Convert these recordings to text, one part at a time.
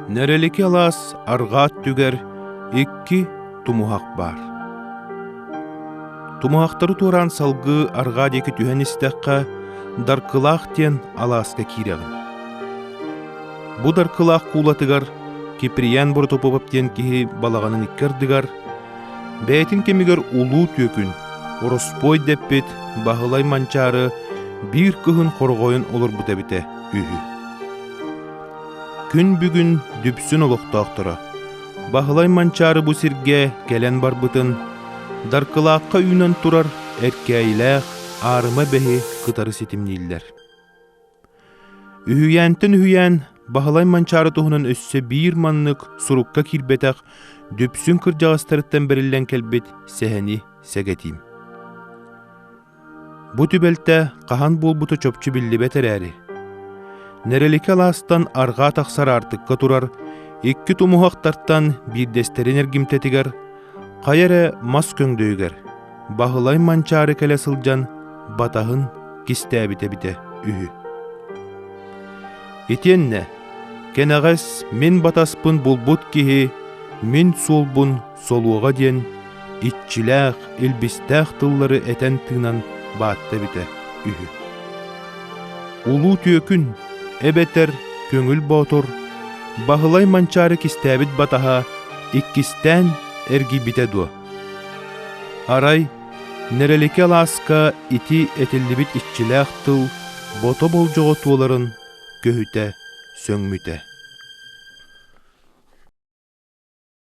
Нэрэлики алаас арҕаа өттүгэр икки тумуһах баар. Тумуһахтары туораан салгыы арҕаа диэки түһэн истэххэ, Даркылаах диэн алааска киирэҕин. Бу Даркылаах куулатыгар Киприян Боротопопов диэн киһи балаҕанын икки ардыгар, бэйэтин кэмигэр улуу түөкүн, ороспуой дэппит Баһылай Манчаары биир кыһын хороҕойун олорбут эбитэ үһү. Күн бүгүн дүпсүн олохтоохторо Баһылай Манчаары бу сиргэ кэлэн барбытын Даркылаахха үүнэн турар Эркээйилээх Аарыма бэһи кытары ситимнииллэр. Үһүйээнтэн үһүйээн Баһылай Манчаары туһунан өссө биир маннык сурукка киирбэтэх дүпсүн кырдьаҕастарыттан бэриллэн кэлбит сэһэни сэгэтиим. Бу түбэлтэ хаһан буолбута чопчу биллибэт эрээри, Нэрэликэ алаастан арҕаа тахсар аартыкка турар икки тумуһахтартан биирдэстэрин эргимтэтигэр, хайа эрэ мас көҥдөйүгэр, Баһылай Манчаары кэлэ сылдьан батаһын кистээбитэ эбитэ үһү. Итиэннэ кэнэҕэс мин батаспын булбут киһи мин суолбун солуоҕа диэн иччилээх, илбистээх тыллары этэн-тыынан баатта эбитэ үһү. Улуу түөкүн эбэтэр көҥүл боотур Баһылай Манчаары кистээбит батаһа иккистээн эргийбитэ дуо? Арай Нэрэлики алааска ити этиллибит иччилээх тыл бото болдьоҕо туоларын көһүтэ сөҥмүтэ.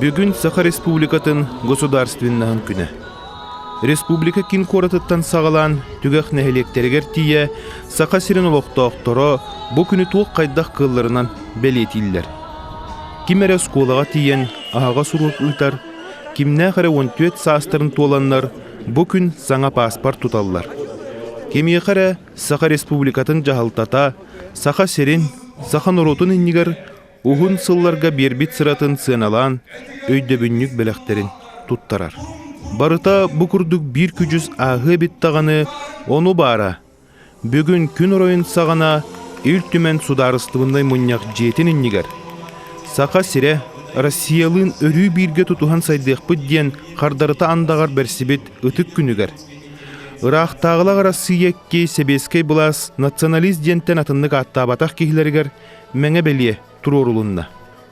Бүгүн Саха Республикатын Государственнаһын күнэ. Республика кин куоратыттан саҕалаан түгэх нэһилиэктэригэр тиийэ Саха сирин олохтоохторо бу күнү туох хайдах кылларынан бэлиэтииллэр. Ким эрэ оскуолаҕа тиийэн аһаҕас уруок ыытар, кимнээх эрэ 14 саастарын туоланнар бу күн саҥа пааспар туталлар. Кимиэхэ эрэ Саха Республикатын дьаһалтата, Саха сирин, саха норуотун иннигэр Уһун сылларга биэрбит сыратын сыаналаан, өйдөбүнньүк бэлэхтэрин туттарар. Барыта бу курдук биир күдьүс ааһыа эбит даҕаны, ону баара, бүгүн күн оройун саҕана Ил Түмэн судаарыстыбыннай мунньах дьиэтин иннигэр Саха сирэ Россиялыын өрүү бииргэ тутуһан сайдыахпыт диэн хардарыта андаҕар бэрсибит ытык күнүгэр ыраахтааҕылар Арассыыйа икки сэбиэскэй былаас националист диэнтэн атыннык ааттаабатах киһилэригэр мэҥэ-бэлиэ туруорулунна.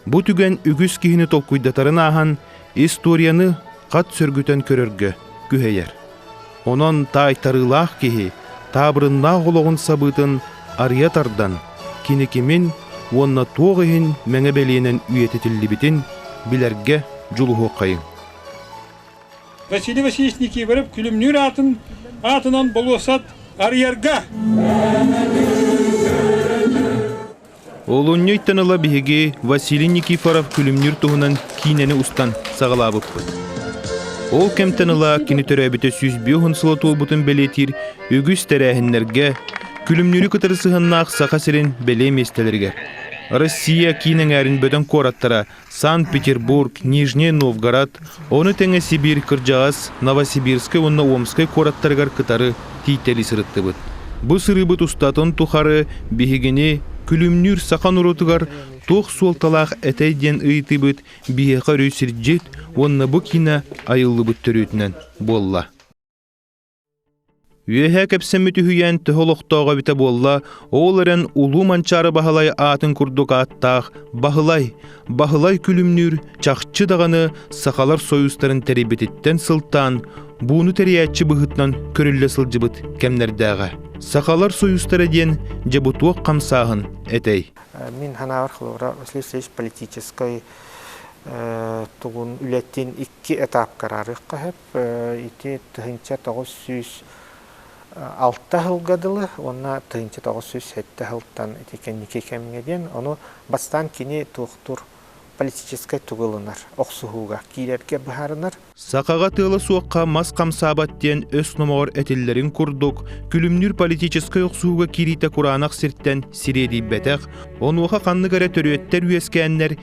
Бу түгэн үгүс киһини толкуйдатарын ааһан, историяны хат сөргүтэн көрөргө күһэйэр. Онон таайтарыылаах киһи таабырыннаах олоҕун сабыытын арыйа тардан, кини кимин уонна туох иһин мэҥэ-бэлиэнэн үйэтитиллибитин билэргэ дьулуһуоххайыҥ. Василий Васильевич Никифоров күлүмнүүр аатын аатынан болуоссат арыйарга. Олунньуйтан ыла биһиги Василий Никифоров күлүмнүүр туһунан киинэни устан саҕалаабыппыт. Ол кэмтэн ыла кини төрөөбүтэ сүүс биоһун сыла туолбутун бэлиэтиир үгүс тэрээһиннэргэ, күлүмнүүрү кытары сыһаннаах Саха сирин бэлиэ миэстэлэригэр, Россия киин эҥээрин бөдөҥ куораттара Санкт-Петербург, Нижний Новгород, ону тэҥэ Сибиир кырдьаҕас, Новосибирскай уонна Омскай куораттарыгар кытары тийтэли сырыттыбыт. Бу сырыыбыт устатын тухары биһигини күлүмнүүр саха норуотугар туох суолталаах этэй диэн ыйытыыбыт биһиэхэ өрүү сирдьит уонна бу киинэ айыллыбыт төрүөтүнэн буолла. Үөһэ кэпсэммит үһүйээн төһө олохтоох эбитэ буолла, ол эрэн Улуу Манчаары Баһылай аатын курдук ааттаах Баһылай, Баһылай күлүмнүүр чахчы даҕаны Сахалар союзтарын тэрийбититтэн сылтаан, бууну тэрийээччи быһыытынан көрүллэ сылдьыбыт кэмнэрдээҕэ. Сахалар союзтара диэн дьабутуок хамсааһын этэй. Мин ханаабар хлора Василий Васильевич политическай тугун үлэтин икки этап карарыхха Ити тыһыынча тоҕус сүүс алта сылга дылы уонна тыһыынча тоҕус сүүс сэттэ сылтан ити кэнники кэмҥэ диэн, ону бастаан кини туохтуур политическай тугу ылынар, охсуһууга киирэргэ быһаарынар. Сахаҕа тыала суохха мас хамсаабат диэн өс номоҕор этиллэрин курдук, күлүмнүүр политическай охсуһууга киириитэ кураанах сиртэн сириэдийбэтэх, онуоха ханнык эрэ төрүөттэр үөскээннэр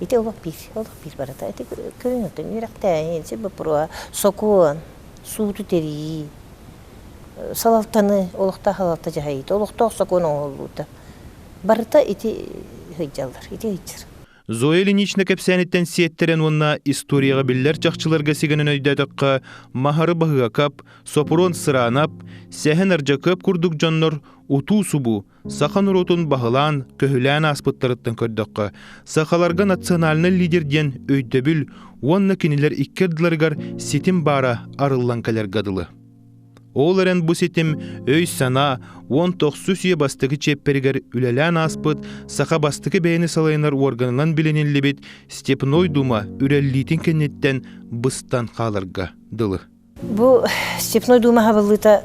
Ити олох биир, олох биир барыта. Ити көрүҥүттэн үөрэхтээһин, сир боппуруоһа, сокуон, сууту тэрийии, салалтаны, олохтоох салалта дьаһайыыта, олохтоох сокуон оҥоһуллуута. Барыта ити сылдьаллар, ити сылдьар. Зоя Ильинична кэпсээниттэн сиэттэрэн уонна историяҕа биллэр чахчыларга сигэнэн өйдөөтөххө, Маһары Баһыакап, Сопуруон Сыраанап, Сэһэн Ардьакыап курдук дьоннор утуу-субуу, Саха норуотун баһылаан, көһүлээн ааспыттарыттан көрдөххө, сахаларга национальнай лидер диэн өйдөбүл уонна кинилэр икки ардыларыгар ситим баара арыллан кэлэргэ дылы. Ол эрэн бу ситим өй-санаа уон тохсус үйэ бастакы чиэппэригэр үлэлээн ааспыт саха бастакы бэйэни салайынар уорганынан билиниллибит Степной дума үрэллиитин кэнниттэн быстан хааларга дылы. Бу Степной Дума хабыллыыта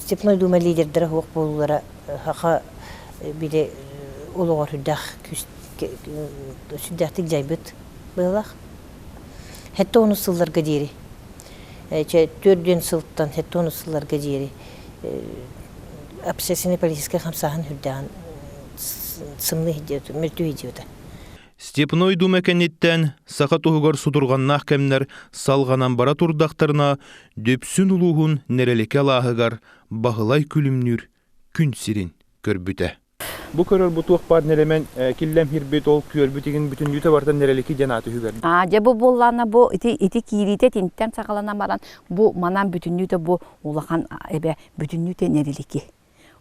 Степной Дума лидердара суох буолуулара саха били олоҕор сүрдээх сүрдээхтик дьайбыт быһылаах. Хэтте онус сылларга диэри. Төрт диэн сылтан хэтте онус сылларга диэри обсессини полицейскай хамсааһын үрдээҕин сымныы мөлтүү сылдьыбыта. Степной Дума кэнниттэн саха туһугар судурҕаннаах кэмнэр салҕанан бара турдахтарына, Дүпсүн улууһун Нэрэликэ алааһыгар Баһылай Күлүмнүүр күн сирин көрбүтэ. Бу көрөр бу туох баар нэрэмэн киллэмһирбит, ол күөрбүт игин бүтүннүүтэ барытын Нэрэлики диэн ааты үһүгэрдэ. А, дьэ бу буоллаана бу ити ити киириитэ итинтэн саҕалана баран бу манан бүтүннүүтэ бу улахан эбэ бүтүннүүтэ нэрилики.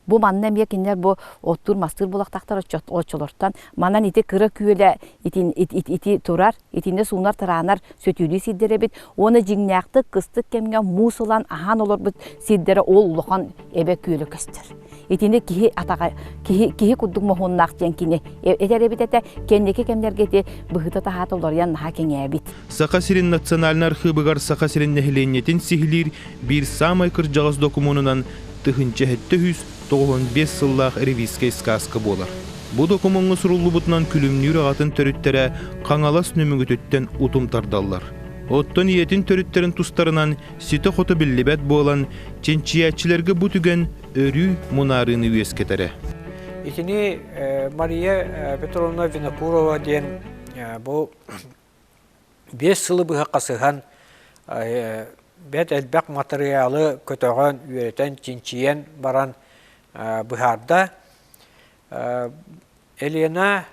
Бу манна эмиэ кинилэр бу оттуур-мастыыр булахтахтар оччолортон манан ити кыра күөлэ ити, ити, ити турар, итиннэ суунар тыраанар сөтүөлүү сирдэр эбит уонна дьиҥнээхтик кыстык кэмҥэ муус ылан аһаан олорбут сирдэрэ ол улахан эбэ күөлэ көстөр. Итини киһи атаҕа киһи киһи курдук моһуоннаах диэн кини этэр эбит этэ кэнники кэмнэргэ ити быһыта-таһаата уларыйан наһаа кэҥээбит. Саха сирин национальнай архыыбыгар Саха сирин нэһилиэнньэтин сиһилиир биир саамай кырдьаҕас докумуонунан тыһыынча сэттэ сүүс тоҕуһун биэс сыллаах ревизскэй сказка буолар. Бу докумуоҥҥа суруллубутунан күлүмнүүр аҕатын төрүттэрэ Хаҥалас Нөмүгүтүттэн утум тардаллар. Оттон ийэтин төрүттэрин тустарынан ситэ-хото биллибэт буолан, чинчийээччилэргэ бу түгэн өрүү мунаарыыны үөскэтэрэ. Итини Мария Петровна Винокурова диэн бу Биэс сылы быһа хасыһан бэрт элбэх матырыйаалы көтөҕөн, үөрэтэн, чинчийэн баран быһаарда. Елена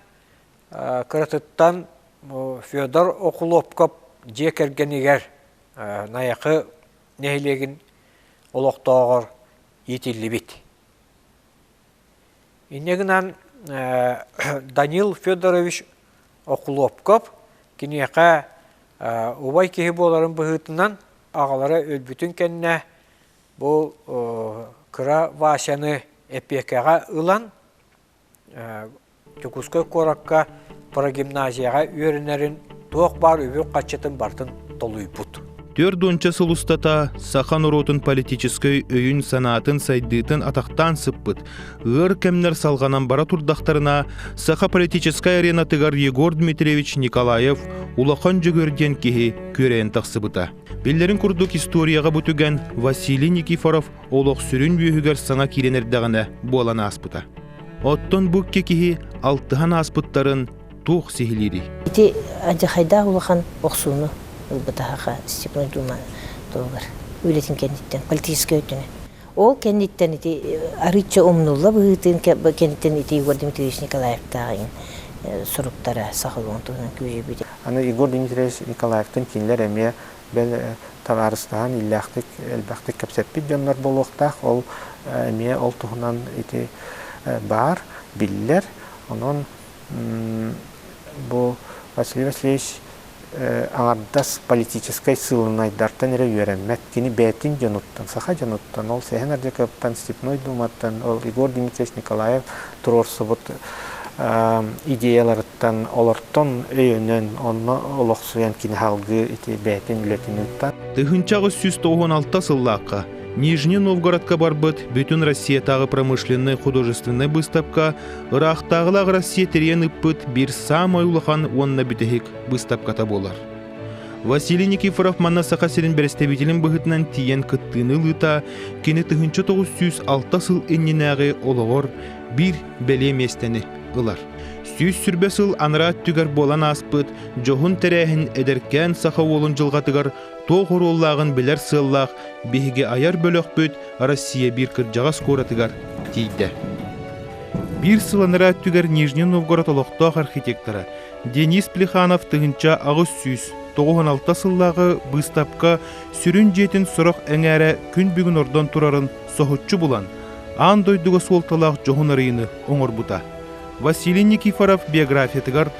кыратыттан Федор Окулопков дьиэ кэргэнигэр Найахы нэһилиэгин олохтооҕор иитиллибит. Инньэ гынан Данил Федорович Окулуопкап киниэхэ убай киһи буоларын быһыытынан аҕалара өлбүтүн кэннэ бу кыра Васяны эпиэкэҕэ ылан Дьокуускай куоракка прогимназияҕа үөрэнэрин туох баар үбүк харчытын барытын толуйбут. Түөрт уонча сыл устата саха норуотун политическай өйүн-санаатын сайдыытын атахтаан сыппыт, ыар кэмнэр салҕанан бара турдахтарына, саха политическай аренатыгар Егор Дмитриевич Николаев улахан дьөгүөр диэн киһи күөрэйэн тахсыбыта. Биллэрин курдук историяҕа бу түгэн Василий Никифоров олох сүрүн үөһүгэр саҥа киирэн эрдэҕинэ буолан ааспыта. Оттон бу икки киһи алтыһан ааспыттарын туох сиһилиирий? Ити адьахайдаах улахан охсууну ылбыта Саха Степной Дума туһугар үлэтин кэнниттэн, политическай өттүнэн. Ол кэнниттэн ити арыычча умнулла быһыытын кэнниттэн ити Егор Дмитриевич Николаевтааҕын суруктара сахалыы туһунан күөйбүт. Аны Егор Дмитриевич Николаевтан кинилэр эмиэ бэл табаарыстаһан иллээхтик, элбэхтик кэпсэппит дьоннор буолуохтаах, ол эмиэ ол туһунан ити баар, биллэр. Онон бу Василий Васильевич аҥардас политическай сыылынайдартан эрэ үөрэммэт, кини бэйэтин дьонуттан, саха дьонуттан, ол Сэһэн Ардьакыаптан, Степной Дууматтан, ол Егор Дмитриевич Николаев туруорсубут идеяларыттан, олортон өйөнөн, онно олох Суйан кини салгыы ити бэйэтин үлэтин ыытта. Тыһыынча аҕыс сүүс тоҕуон алта сыллаахха Нижний Новгородка барбыт бүтүн Россиятааҕы промышленнай художественнай быыстапка ыраахтааҕылаах Россия тэрийэн ыппыт биир саамай улахан уонна бүтэһик быыстапката буолар. Василий Никифоров манна Саха сирин бэрэстэбиитэлин быһыытынан тиийэн кыттыыны ылыыта кини тыһыынча тоҕус сүүс алта сыл иннинээҕи олоҕор биир бэлиэ миэстэни ылар. Сүүс сүрбэ сыл анараа өттүгэр буолан ааспыт дьоһун тэрээһин эдэркээн саха уолун дьылҕатыгар туох оруоллааҕын билэр сыаллаах биһиги айар бөлөхпүт Россия биир кырдьаҕас куоратыгар тиийдэ. Биир сыл анараа өттүгэр Нижний Новгород олохтоох архитектора Денис Плеханов тыһынча аҕыс сүүс 96 сыллааҕы быыстапка сүрүн дьиэтин сорох эҥээрэ күн бүгүн ордон турарын соһуччу булан, аан дойдуга суолталаах дьоһун арыйыны оҥорбута. Василий Никифоров биографиятыгар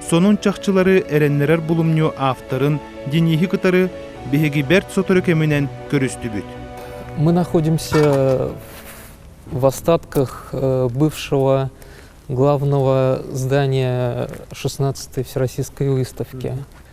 сонун чахчылары эрэннэрэр булумньу авторын Денихи кытары биһиги бэрт сотору кэминэн көрүстүбүт. Мы находимся в остатках бывшего главного здания 16-й Всероссийской выставки.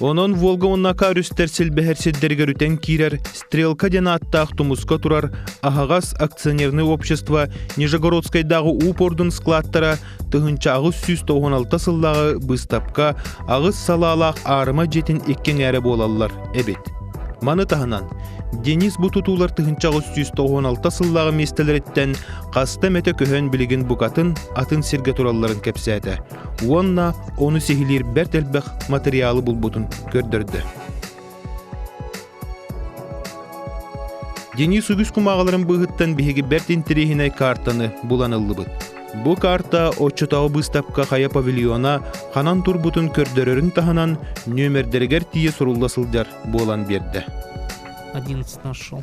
Онон Волга уоннака өрүстэр силбэһэр сирдэригэр үтэн киирэр Стрелка диэн ааттаах тумуска турар аһаҕас акционернай общество Нижегородскайдааҕы уупордун складтара тыһынча аҕыс сүүс тоҕуон алта сыллааҕы быыстапка аҕыс салаалаах аарыма дьиэтин иккиҥ эрэ буолаллар эбит. Маны таһынан Денис бу тутуулар тыһынча аҕыс сүүс тоҕуон алта сыллааҕы миэстэлэриттэн хаста эмэтэ көһөн билигин букатын атын сиргэ туралларын кэпсээтэ. уонна ону сиһилиир бэрт элбэх материалы булбутун көрдөрдө. Денис үгүс кумааҕыларын быыһыттан биһиги бэрт интириэһинэй картаны булан ыллыбыт. Бу карта оччотооҕу быыстапка хайа павильона ханан турбутун көрдөрөрүн таһынан нөмердэригэр тиийэ сурулла сылдьар буолан биэрдэ. 11 нашел.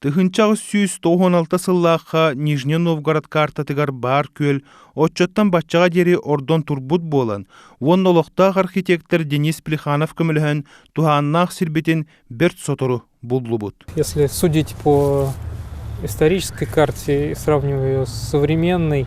Тыһынча аҕыс сүүс тоһуон алта сыллаахха Нижний Новгород картатыгар баар күөл оччоттон баччаҕа диэри ордон турбут буолан, уонна олохтоох архитектор Денис Плеханов көмөлөһөн туһааннаах сирбитин бэрт сотору буллубут. Если судить по исторической карте и сравнивая с современной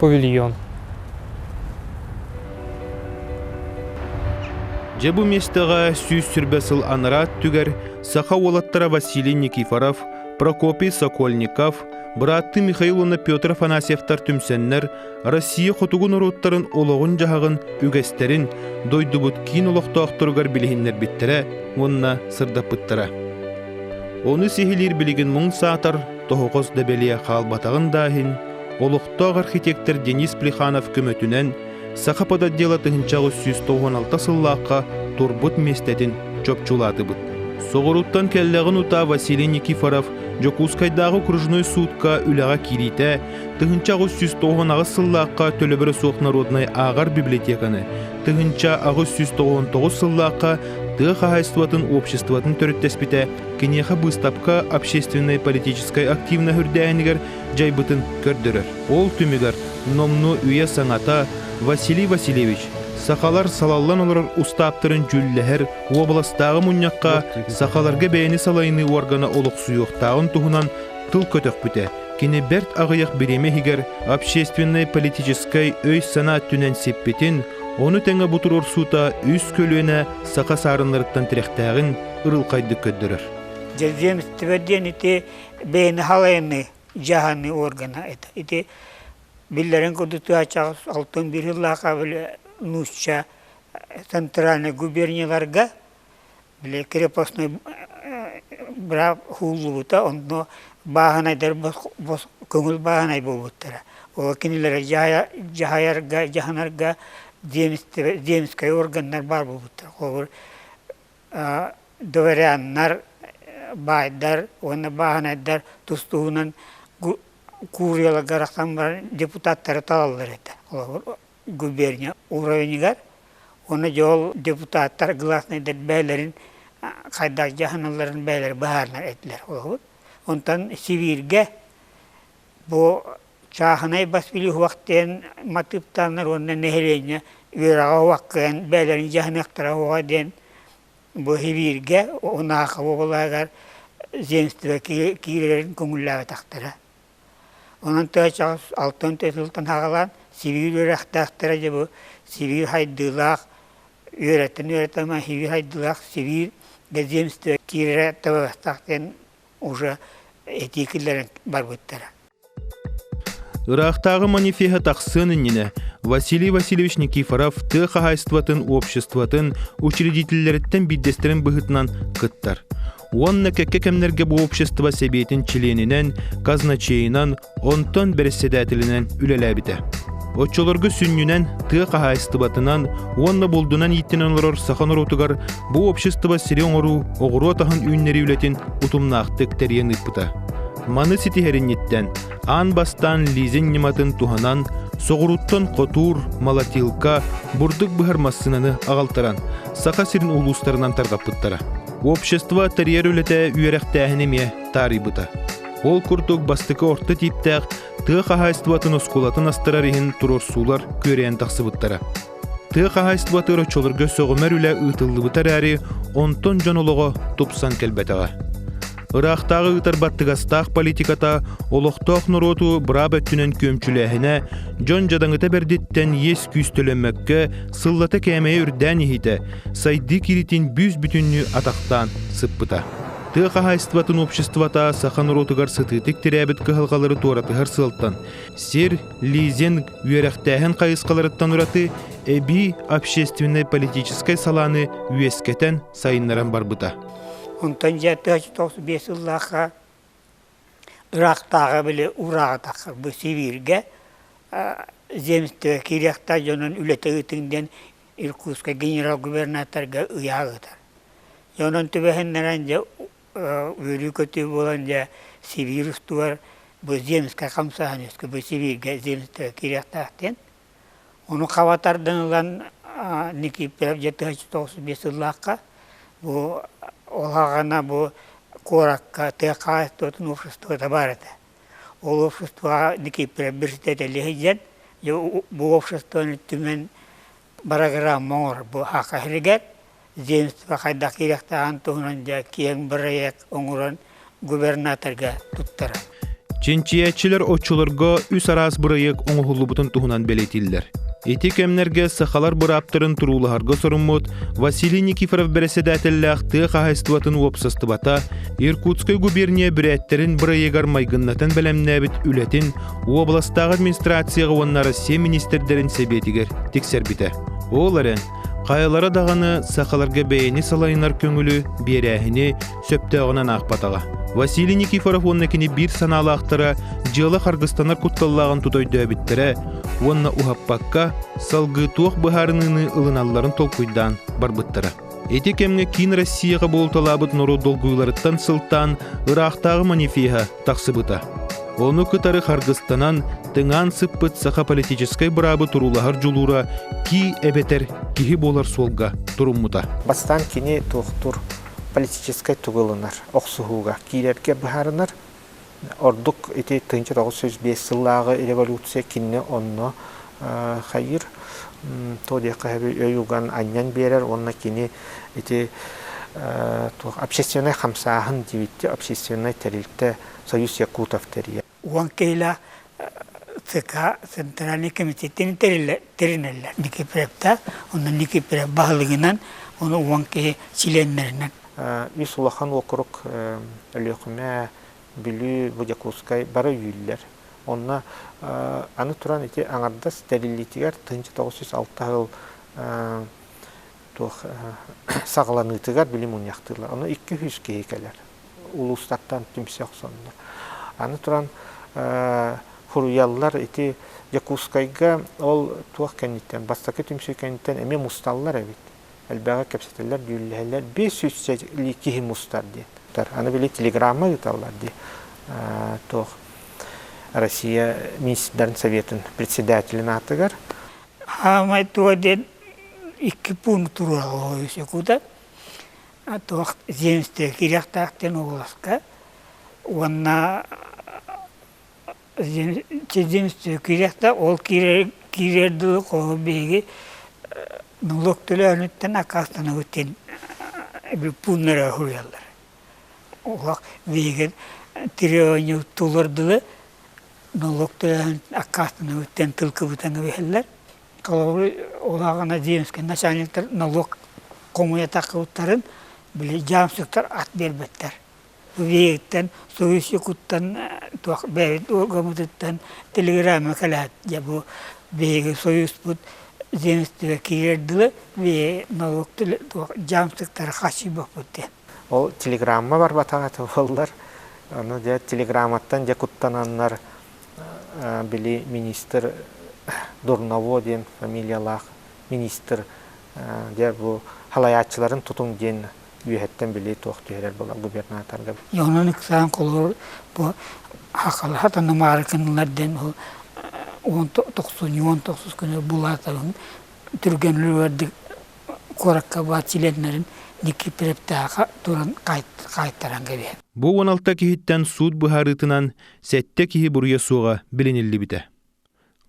павильон. Дьэ бу миэстэҕэ сүүс сүрбэ сыл анараа өттүгэр саха уолаттара Василий Никифоров, Прокопий Сокольников, бырааттыы Михаил уонна Петр Афанасьевтар түмсэннэр Россия хотугу норуоттарын олоҕун-дьаһаҕын үгэстэрин дойдубут киин олохтоохторугар билиһиннэрбиттэрэ уонна сырдаппыттара. Ону сиһилиир билигин муҥ саатар тоһоҕос дэбэлиэ хаалбатаҕын да иһин олохтоох архитектор Денис Плеханов көмөтүнэн Саха подотдела тыһынча аҕыс сүүс тоҕуон алта сыллаахха турбут миэстэтин чопчулаатыбыт. Соҕурууттан кэллэҕин утаа Василий Никифоров Дьокуускайдааҕы окружной судка үлэҕэ киириитэ тыһынча аҕыс сүүс тоҕуон аҕыс сыллаахха төлөбүрэ суох народнай ааҕар библиотеканы тыһынча аҕыс сүүс тоҕуон тоҕус сыллаахха тыа хаһаайыстыбатын обществотын төрүттэспитэ киниэхэ быыстапка общественнай политическай активна үрдээһинигэр дьайбытын көрдөрөр. Ол түмүгэр номнуо үйэ-саҥата Василий Васильевич сахалар салаллан олорор устааптарын дьүүллэһэр уобаластааҕы мунньахха сахаларга бэйэни салайыныы уоргана олохсуйуохтааҕын туһунан тыл көтөхпүтэ. Кини бэрт аҕыйах бириэмэ иһигэр общественнай-политическай өй-санаа өттүнэн сиппитин, ону тэҥэ бу туруорсуута үс көлүөнэ саха саарыннарыттан тирэхтээҕин ырылхайдык көрдөрөр. Дьэзиэмистибэ диэн ити бэйэни халайыныы дьаһаныы органа это ити биллэрин курдук тыачаҕас алтын биир сыллаахха били нуучча центральнай губернияларга били крепостной быраап ууллубута онно бааһынайдар бос бос көҥүл бааһынай буолбуттара ол кинилэри дьаһайа дьаһайарга дьаһанарга земскай органнар баар буолбуттара холобур дворяннар, баайдар уонна бааһынайдар тус туһунан кууруларга арахсан баран депутаттары талаллар этэ. Олохор губерния уровенигар уонна дьол депутаттар гласнайдар бэйэлэрин хайдах дьаһаналларын бэйэлэрэ быһаарынар этилэр. Онтон Сибииргэ бу Сааһынай бас үлүһуок диэн матыыптааннар уонна нэһилиэнньэ үөрэҕэ уһук кыайан бэйэлэрин дьаһаныахтара уоҕа диэн быһирииргэ Унаахы уобалаһыгар земство киирэрин көҥүллээбэтэхтэрэ. Онон тыачаҕыс алтан төрүт сылтан хаҕалаан Сибиир үөрэхтээхтэрэ дьэ бу Сибиир хайдыылаах үөрэтэн үөрэтэн Сибиир хайдыылаах Сибиир земство киирэрэ табыгастаах диэн уже этии киллэрэн барбыттара. Ыраахтааҕы манифеһа тахсыан иннинэ Василий Васильевич Никифоров тыа хаһаайыстыбатын обществотын учредителлэриттэн биирдэстэрин быһыытынан кыттар уонна кэккэ кэмнэргэ бу общество сэбиэтин чилиэнинэн, казначейынан, онтон бэрэссэдээтэлинэн үлэлээбитэ. Оччолорго сүнньүнэн тыа хаһаайыстыбатынан уонна булдунан ииттэнэн олорор саха норуотугар бу общество сири оҥоруу оҕуруот аһын үүннэрии үлэтин утумнаахтык тэрийэн ыыппыта. Маны ситиһэринниттэн аан бастаан лизинг ньыматын туһанан соҕурууттан хотуур, молотилка, бурдук быһар массыынаны аҕалтаран Саха сирин улуустарынан тарҕаппыттара. Общество тэрийэр үлэтэ үөрэхтээһин эмиэ таарыйбыта. Ол курдук бастакы орто тииптээх тыа хаһаайыстыбатын оскуолатын астарар иһин туруорсуулар күөрэйэн тахсыбыттара. Тыа хаһаайыстыбатыгар оччолорго сөҕүмэр үлэ ыытыллыбыта эрээри, онтон дьон олоҕо тупсан кэлбэтэҕэ. Ыраахтааҕы ыытар баттыгастаах политиката олохтоох норуоту быраап өттүнэн күөмчүлээһинэ дьон дьадаҥыта бэрдиттэн иэс күүстөлөммөккө сыллата кээмэйэ үрдээн иһиитэ сайдыы кииритин бүүс-бүтүннүү атахтаан сыппыта. Тыа хаһаайыстыбатын обществота саха норуотугар сытыытык тирээбит кыһалҕалары туоратыһар сыалтан сир, лизинг үөрэхтээһин хайысхаларыттан ураты эбии общественнай-политическай салааны үөскэтэн сайыннаран барбыта онтон дьэ тыһыч тоҕус биэс сыллаахха ыраахтааҕы били ураатаххар бу сибииргэ земство кириэхтаа дьонун үлэтэ ыытыҥ диэн иркутскай генерал губернаторга ыйаа ыытар онон түбэһиннэрэн дьэ үөлүү-көтүү буолан дьэ Сибиир устугар бу земскэй хамсаһан үөскүү бу Сибииргэ земство киириэхтээх диэн ону хаба тардан ылан Никифоров дьэ тыһа сүүс тоҕус биэс сыллаахха бу ол аҕана бу куоракка тыа хаһаайыстыбатын уопсастыбата баар этэ ол уопсастыбаҕа Никифоров бэрэссэдээтэлэ сылдьан дьэ бу уопсастыбаны түмэн бырагыраама оҥорбу аха иһигэр земство хайдах киириэхтээҕин туһунан дьэ киэҥ бырайыак оҥорон губернаторга туттарар. Чинчийээччилэр оччолорго үс араас бырайыак оҥоһуллубутун туһунан бэлиэтииллэр. Ити кэмнэргэ сахалар бырааптарын туруулаһарга соруммут Василий Никифоров бэрэссэдээтэллээх тыа хаһаайыстыбатын уопсастыбата Иркутскай губерния бүрээттэрин бырайыагар майгыннатан бэлэмнээбит үлэтин Уобаластааҕы администрацияҕа уонна Россия министрдэрин сэбиэтигэр тиксэрбитэ. Ол эрэн, хайалара даҕаны сахаларга бэйэни салайынар көҥүлү, биэрээһини сөптөөҕүнэн аахпатаҕа. Василий Никифоров уонна кини биир санаалаахтара дьыала харгыстанар кутталлааҕын тута өйдөөбүттэрэ уонна уһаппакка, салгыы туох быһаарыныыны ылыналларын толкуйдаан барбыттара. Ити кэмҥэ Киин Россияҕа буолталаабыт норуот долгуйууларыттан сылтаан ыраахтааҕы манифеһа тахсыбыта. Ону кытары харгыстанан, тыҥаан сыппыт саха политическай быраабы туруулаһар дьулуура кии эбэтэр киһи буолар суолга туруммута. Бастаан кини туохтуур политическай тугу ылынар, охсуһууга киирэргэ быһаарынар, Ордук ити тыһыынча тоҕус сүүс биэс сыллааҕы революция кинини онно хайыыр, туох диэххэ өй уган анньан биэрэр уонна кини ити общественнай хамсааһын диэбитти общественнай тэрилтэ Союз Якутов тэрийэр. Уон киһилээх ЦК Центральнай комитеттин тэринэллэр. Никипревтаах, онно Никипрев баһылыгынан, оны уон киһи чилиэннэринэн. Ис улахан уокурук Өлүөхүмэ, Бүлүү, бу Дьокуускай бары үүллэр. Онно аны туран ити аҥардас тэриллиитигэр тыһыынча тоҕус жүз алта сыл туох саҕаланыытыгар били мунньахтыыллар. Ону икки сүүс киһи кэлэр. улуустартан түмсэ охсоннор. Аны туран, фуруйаллар ити Дьокуускайга ол туох кэнниттэн, бастакы түмсүү кэнниттэн эмиэ мусталлар эбит. Элбэҕи кэпсэтэллэр, дьүүллэһэллэр. Биэс сүүс киһи мустар диэн. Аны били телеграмма ыыталлар дии. Туох Россия министрдарын советын председателин аатыгар. Аамай туга диэн икки пункт тураллаах. Куда Туох земство кириэхтээх диэн улууска уонна земство кириэхтээх ол киирэр киирэр дуу хоһу биһиги налог төлөөһүнүттэн аккаастанабыт диэн пууннары уһуйаллар. Олох биһиги треоньу толордулар налог төлөөһүн аккаастанабыт диэн тылкыбытын билэллэр. Холобур, ол ааҕан Адеевскай начальниктар налог хомуйа тахпыттарын били дьаамсыктар ат биэрбэттэр. Виһиттэн, суруйсукуттан, туох бэйэбит уоргаммытыттан телеграмма кэлээт дьэ бу биһиги союзпут земствога киирэр дылы виһи налог туох дьаамсыктары хачыйбаппыт диэн. Ол телеграмма барбатаҕа буоллар, аны дьэ телеграмматтан дьэ куттананнар били министр Дурново диэн фамилиялаах министр дьэ бу халайааччыларын тутуҥ диэн үөһэттэн били туох түһэрэр була губернаторга. Онон ыксаан колор бу хахалаха танымаары кынылар дэн он тохсун он тохсус күнү булаатабын түргэнлердик куоракка баар членнерин дикки прептааха туран қайтаран кэбиһэ. Бу 16 киһиттэн суут быһаарыытынан Сэттэ киһи буруйа суоҕа билиниллибитэ.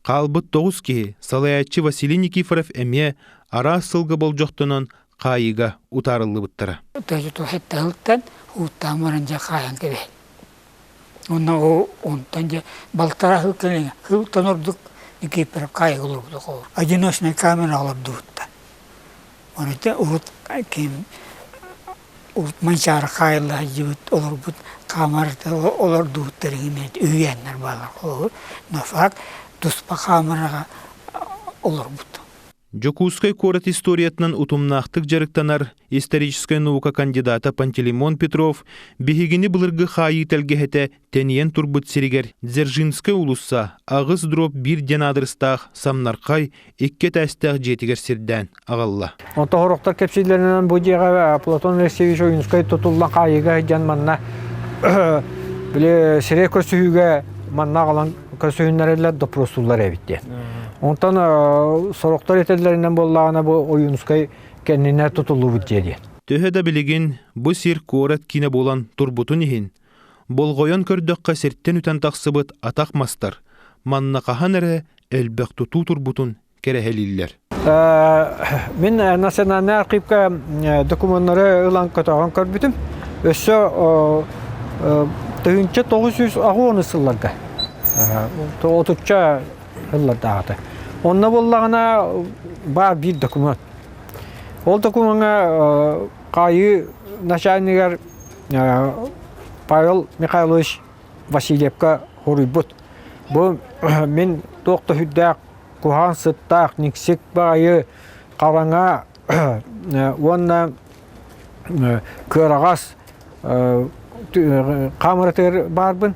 Хаалбыт тоҕус киһи салайааччы Василий Никифоров эмиэ араас сылга болдьохтонон хаайыыга утаарыллыбыттара. Тыһыттан ууттаан баран дьэ хаайан кэбиһэр. Уонна ол онтон дьэ балтара кыл кэлиҥэ кылтан ордук Никифоров хаайыга олорбут оҕолор. Одиночная камера олордубуттар. Оройда вот ким Манчаары хаайыллаһайдьыбыт олорбут хаамарата олордубуттар иҥимиэт үһүйээннэр бааллар холобур но факт туспа хаамараҕа олорбут Дьокуускай куорат историятынан утумнаахтык дьарыктанар историческай наука кандидата Пантелеймон Петров биһигини былыргы хаайыы тэлгэһэтэ тэнийэн турбут сиригэр Дзержинскай уулусса аҕыс дробь биир диэн аадырыстаах самнархай икки этээстээх дьиэтигэр сирдээн аҕалла. Онто хороктор кэпсиилэринэн бу дьиэҕэ Платон Алексеевич Ойунскай тутуллан хаайыыга сылдьан манна били сирэй көрсүһүүгэ манна аҕалан көрсүһүннэрэллэр допросуллар эбит диэн. Онтон сороктор этэллэринэн буоллаҕына бу Ойунскай кэннинэ тутуллубут дьиэ диэн. Төһө да билигин бу сир куорат киинэ буолан турбутун иһин Болҕойон көрдөххө сиртэн үтэн тахсыбыт атах мастар манна хаһан эрэ элбэх тутуу турбутун кэрэһэлииллэр. Мин национальнай архыыпка докумуоннары ылан көтөҕөн көрбүтүм. Өссө тыһыынча тоғыз жүз аҕыон сылларга отучча сыллардааҕыта. Онно буллаҕына баар биир докумуон. Ол докумуоҥҥа хаайыы начальнигар Павел Михайлович Васильевка хоруйбут. Бу мин туох да сүрдээх куһаҕан сыттаах, никсик баайы, хараҥа уонна кыараҕас хамырытыр баарбын.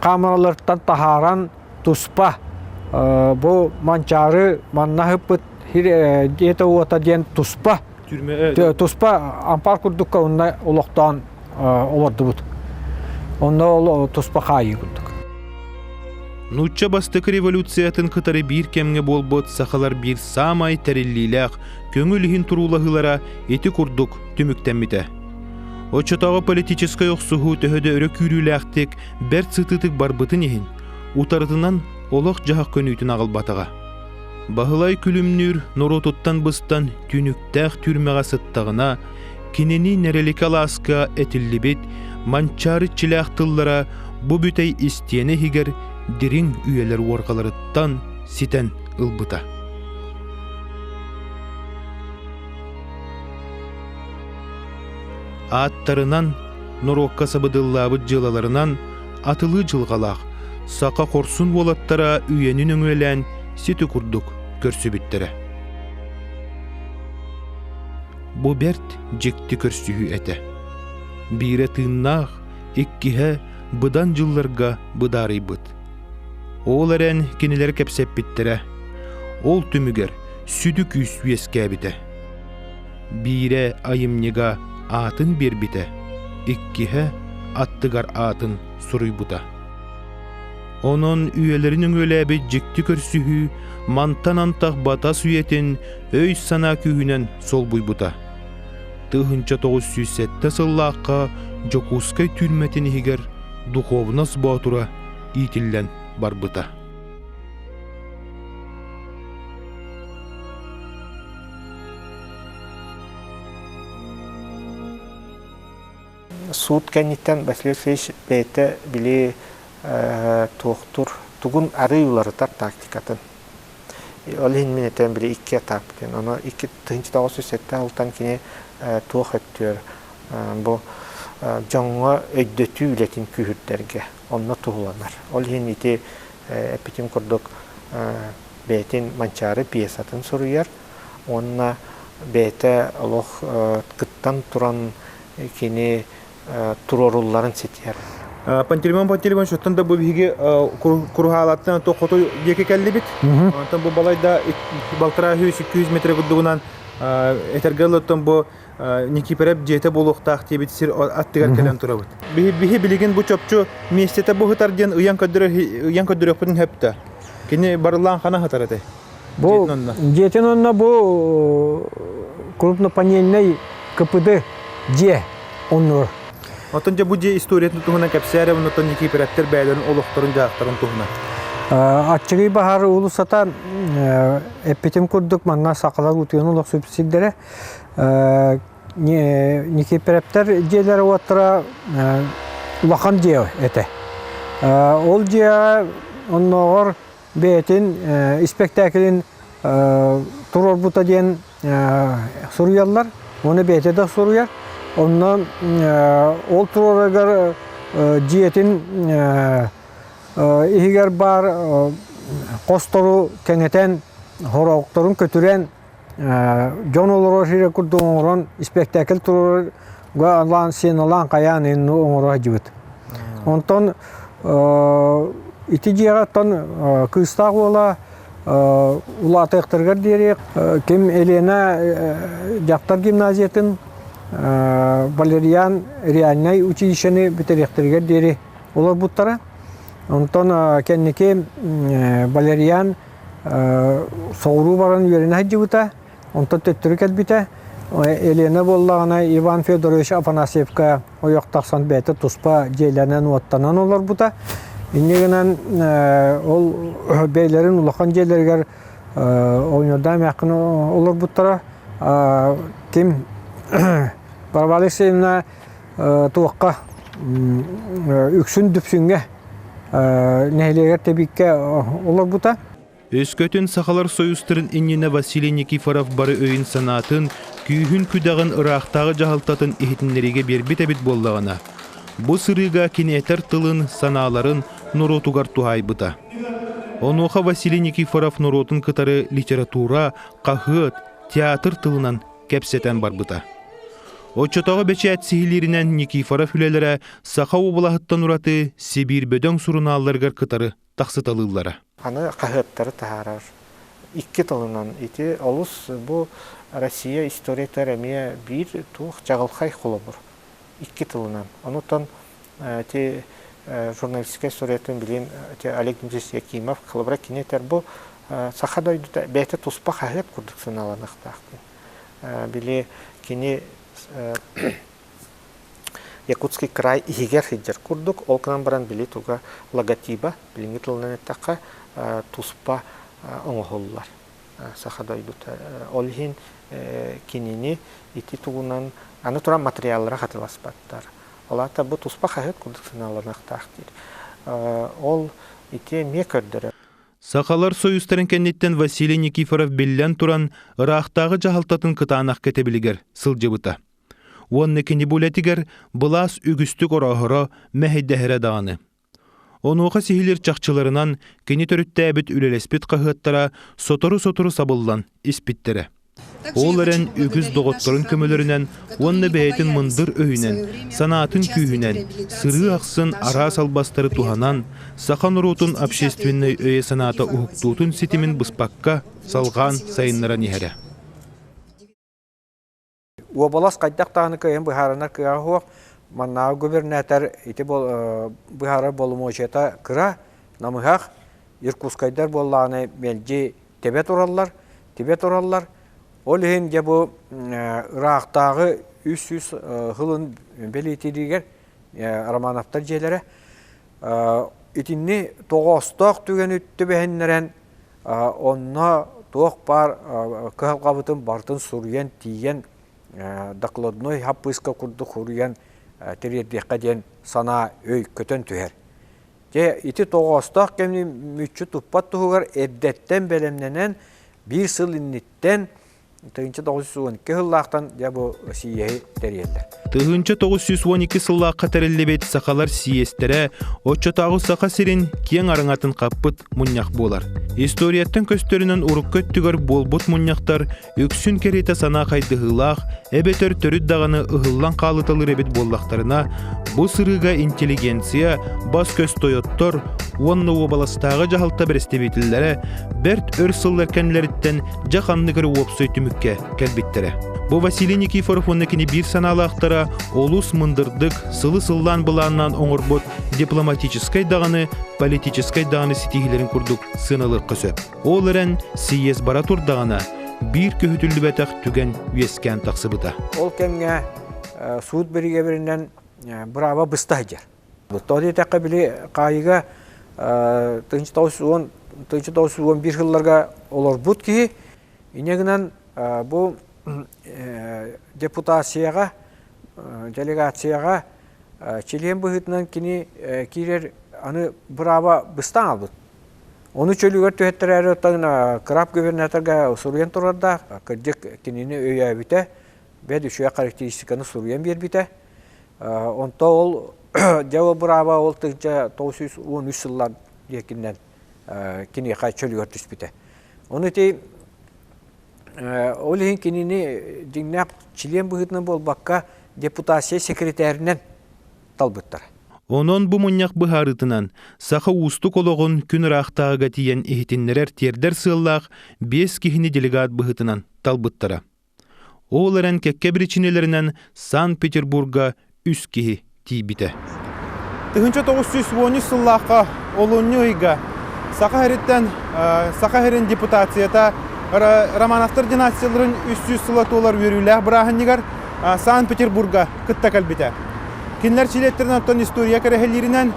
камералартан таһааран туспа бу Манчаары манна ыппыт дьиэтэ-уота диэн туспа туспа ампаар курдукка онно олохтоон олордубут онно ол туспа хаайыы курдук нуучча бастакы революциятын кытары биир кэмҥэ буолбут сахалар биир саамай тэриллиилээх көҥүл иһин туруулаһыылара ити курдук түмүктэммитэ Оччотооҕу политическай охсуһуу төһө да өрө күүрүүлээхтик, бэрт сытыытык барбытын иһин, утарытынан олох-дьаһах көнүүтүн аҕалбатаҕа. Баһылай күлүмнүүр норуотуттан быстан түнүктээх түрмэҕэ сыттаҕына, кинини нэрэликэ алааска этиллибит Манчаары иччилээх тыллара бу бүтэй истиэнэ иһигэр дириҥ үйэлэр уорҕаларыттан ситэн ылбыта. Ааттарынан, норуокка сабыдыллаабыт дьыалаларынан атылыы дьылҕалаах саха хорсун уолаттара үйэни нөҥүөлээн сити курдук көрсүбүттэрэ. Бу бэрт дьикти көрсүһүү этэ. Биирэ тыыннаах, иккиһэ быдан дьылларга быдаарыйбыт. Ол эрэн кинилэр кэпсэппиттэрэ. Ол түмүгэр сүдү күүс үөскээбитэ. биирэ айымньыга аатын биэрбитэ, иккиһэ аттыгар аатын суруйбута. Онон үйэлэрин өҥүөлээбит дьикти көрсүһүү мантан антах батас үйэтин өй-санаа күүһүнэн солбуйбута. Тыһыынча тоҕус сүүс сэттэ сыллаахха Дьокуускай түүрмэтин иһигэр духовность боотура иитиллэн барбыта. Суут кэнниттэн Василий Васильевич бэйэтэ били туохтур тугун арый уларытар тактикатын. Ол иһин мин этэн били икки этаппытын. Ону икки тыһынча тоҕус жүз сэттэ алтан кини туох өттүөр бу дьоҥҥо өйдөтүү үлэтин күүһүрдэргэ онно туһуланар. Ол иһин ити эппитим курдук бэйэтин Манчаары пьесатын суруйар уонна бэйэтэ олох кыттан туран кини туруорулларын ситиэр. Пантелеймон Пантелеймоновичтан да бу биһиги куруһаалаттан то хотой диэки кэллибит. Онтон бу балайда балтараа үс икки метрэ курдугунан этэргэ ылыттан бу Никипирэп дьиэтэ буолуохтаах диэбит сир аттыгар кэлэн турабыт. Биһи билигин бу чопчу миэстэтэ буһутар диэн ыйан көрдөрүөхпүтүн сөптө. Кини барыллаан хана сытар этэй? Бу дьиэтин онно бу крупнопанельный КПД дьиэ оннур. Оттон дьэ бу дьиэ историятын туһунан кэпсээри оннуттан Никипирэптэр бэйэлэрин олохторун дьаахтарын туһунан. Аччыгый баһар уулуссата эппитим курдук манна сакалар утуйан олох сүпсиддэрэ Никипирептер дьиэлэр уоттара улахан дьиэ этэ. Ол дьиэ оннооҕор бэйэтин испэктээкилин туруорбута диэн суруйаллар. Ону бэйэтэ да суруйар. Онно ол туруорарыгар дьиэтин иһигэр баар хостору кэҥэтэн, хороҕторун көтүрэн дьон олорор сирэ курдук оҥорон испэктээкил туруга алаан сеналаан хайаан инни оҥоро сылдьыбыт. Онтон ити дьиэҕэттэн кыыстаах уола улаатыахтарыгар диэри ким Елена дьахтар гимназиятын Валериан реальнай училищены бүтэриэхтэригэр диэри олорбуттара. Онтон кэнники Валериан соҕуруу баран үөрэнэ сылдьыбыта, онтон төттөрү кэлбитэ. Елена буоллаҕына Иван Федорович Афанасьевка ойох тахсан бэйэтэ туспа дьиэлэнэн уоттанан олорбута. Инньэ гынан ол бэйэлэрин улахан дьиэлэригэр оонньуурдаан эмээххин олорбуттара. Ким Барабан Алексеевна туохха үксүн Дүпсүҥҥэ нэһилиэгэр тэбиккэ олорбута. Өскөтүн Сахалар Союзтарын иннинэ Василий Никифоров бары өйүн-санаатын, күүһүн-күдэҕин ыраахтааҕы дьаһалтатын иһитиннэриигэ биэрбит эбит буоллаҕына, бу сырыыга киниэтэр тылын, санааларын норуотугар туһаайбыта. Онуоха Василий Никифоров норуотун кытары литература, хаһыат, театр тылынан кэпсэтэн барбыта. Оччотооҕу бэчээт сиһилииринэн Никифоров үлэлэрэ Саха уобалаһыттан ураты Сибиир бөдөҥ сурунаалларыгар кытары тахсыталыыллара. Аны хаһыаттары таһаарар икки тылынан ити олус бу Россия историятыгар эмиэ биир туох дьаҕылхай холобур икки тылынан. Онутан Ити журналистскай суруйатын билин Олег Дмитриевич Якимов холобура кинитер бу саха дойдута бэйэтэ туспа хаһыат курдук саналаныахтаахтын. Били кини Якутский край иһигэр сылдьар курдук, ол гынан баран били туга логотиба билиҥҥи тылынан эттэххэ туспа оҥоһуллар. саха дойдута ол иһин кинини ити тугунан аны туран материаллара хатыласпаттар ол аата бу туспа хаһыат курдук санааланахтаах диир ол ити эмиэ көрдөрөр Сахалар союзтарын кэнниттэн Василий Никифоров биллэн туран ыраахтааҕы дьаһалтатын кытаанах кэтэбилигэр сылдьыбыта. Уонна кини бу үлэтигэр былаас үгүстүк ороһоро, мэһэйдэһэрэ даҕаны. Онуоха сиһилир чахчыларынан кини төрүттээбит үлэлэспит хаһыаттара сотору-сотору сабыллан испиттэрэ. Ол эрэн үгүс доҕотторун көмөлөрүнэн уонна бэйэтин мындыр өйүнэн, санаатын күүһүнэн, сырыы ахсын араас албастары туһанан, саха норуотун общественнай өйө-санаата уһуктуутун ситимин быспакка салҕаан сайыннаран иһэрэ. Уобалас хайдах даҕаны кыайан быһаарынар кыаҕа суох. Маннааҕы губернатор ити быһаарар боломуочуйата кыра, намыһах. Иркутскайдар буоллаҕына мэлдьи тэбэ тураллар, тибэ тураллар. Ол иһин дьэ бу ыраахтааҕы үс сүүс сылын бэлиэтииригэр Романовтар дьиэлэрэ итинни тоҕоостоох түгэни түбэһиннэрэн Онно туох баар кыһалҕабытын барытын суруйан, тиийэн докладной хаппыыска курдук суруйан тириэрдиэххэ диэн санаа өй көтөн түһэр. Дьэ, ити тоҕоостоох кэмни мүччү туппат туһугар эрдэттэн бэлэмнэнэн, биир сыл инниттэн тыһыынча тоҕус сүүс уон икки сыллаахтан дьэ бу сииэһи тэрийэллэр. Тыһыынча тоҕус сүүс уон икки сыллаахха тэриллибит сахалар сиэстэрэ оччотооҕу саха сирин киэҥ араҥатын хаппыт мунньах буолар. Историяттан көстөрүнэн урукку өттүгэр буолбут мунньахтар үксүн кэриэтэ санаа хайдыһыылаах эбэтэр төрүт даҕаны ыһыллан хаалыталыр эбит буоллахтарына бу сырыыга интеллигенция бас-көс тойоттор уонна уобаластааҕы дьаһалта бэрэстэбиитэллэрэ бэрт өр сыллар кэннилэриттэн дьэ ханнык эрэ уопсай түмүккэ кэлбиттэрэ. Бу Василий Никифоров уонна кини биир санаалаахтара олус мындырдык, сылы сыллаан былааннаан оҥорбут дипломатическай даҕаны, политическай даҕаны ситиһиилэрин курдук сыаналыахха сөп. Ол эрэн сийиэс бара турдаҕына биир көһүтүллүбэтэх түгэн үөскээн тахсыбыта. Ол кэмҥэ суут биригэбиринэн бырааба быста сылдьар. Тоҕо диэтэххэ, били хаайыыга тыһыынча тоҕус жүз уон тыһыынча тоҕус жүз уон биир сылларга олорбут киһи инньэ гынан бу депутацияҕа, делегацияҕа чилиэн быһыытынан кини киирэр аны бырааба быстан аҕалбыт. Ону чөлүгэр түһэттэрээри оттон краб губернаторга суруйан турардаах. Кырдьык, кинини өйөөбүтэ, бэт үчүгэй характеристиканы суруйан биэрбитэ. Онто ол дьэ ол бырааба ол тыгдьа тоғыз сүүс он үс сыллан диэкиннэн киниэхэ чөлүгэр түспүтэ. Ону ити ол иһин кинини дьиҥнээх чилиэн быһыытынан буолбакка депутация секретэринэн талбыттара. Онон бу мунньах быһаарытынан саха уустук олоҕун күн ыраахтааҕыга тиийэн иһитиннэрэр тиэрдэр сыаллаах биэс киһини делегат быһыытынан талбыттара. Ол эрэн кэккэ биричиинэлэринэн Санкт-Петербурга үс киһи тиийбитэ. 1913 сыллаахха олунньу ыйга Саха сириттэн Саха сирин депутацията Романовтар династияларын үс сүүс сыла туолар үөрүүлээх бырааһынньыгар Санкт-Петербурга кытта кэлбитэ. Кинилэр чилиэттэрин оттон история кэрэһэлииринэн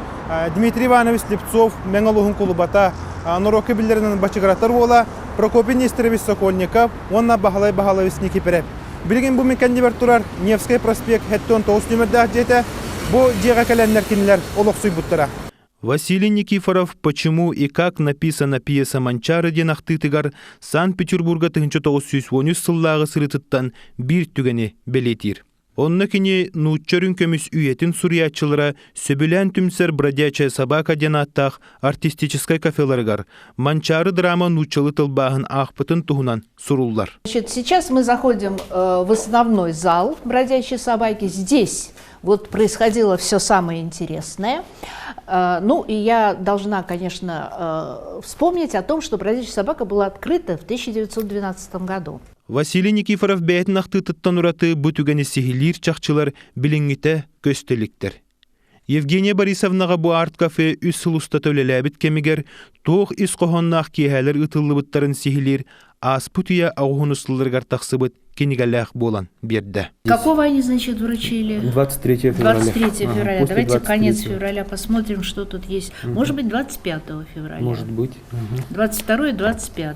Дмитрий Иванович Слепцов Мэҥэ улууһун кулубата, норуокка биллэринэн бачыгыратар уола Прокопий Нестерович Сокольников уонна Баһылай Баһылаевич Никипирэп. Билигин бу мин кэннибэр турар Невскэй проспект сэттион тоҕус нүмердээх дьиэтэ бу дьиэҕэ кэлэннэр кинилэр олохсуйбуттара. Василий Никифоров «Почему и как» написано пьеса «Манчаары» диэн ахтыытыгар Санкт-Петербурга тыһыынча тоҕус сүүс уон үс сыллааҕы сырыытыттан биир түгэни бэлиэтиир. Онно кини нуучча үрүн көмүс үйэтин суруйааччылара сөбүлээн түмсэр «Бродячая собака» диэн ааттаах артистическай кафеларыгар Манчаары драма нууччалыы тылбааһын аахпытын туһунан суруллар. Значит, сейчас мы заходим э, в основной зал «Бродячие собаки». Здесь вот происходило все самое интересное. Э, ну, и я должна, конечно, э, вспомнить о том, что «Бродячая собака» была открыта в 1912 году. Василий Никифоров бэйэтин ахтыытыттан ураты бу түгэни сиһилиир чахчылар билиҥҥитэ көстө иликтэр. Евгения Борисовнаҕа бу арт-кафе үс сыл устата үлэлээбит кэмигэр туох ис хоһоонноох киэһээлэр ыытыллыбыттарын сиһилиир ааспыт үйэ оҕуһун устулларыгар тахсыбыт кинигэлээх буолан биэрдэ. Какого они, значит, вручили? 23 февраля. 23 февраля. Давайте конец февраля посмотрим, что тут есть. Может быть, 25 февраля. Может быть. 22 и 25.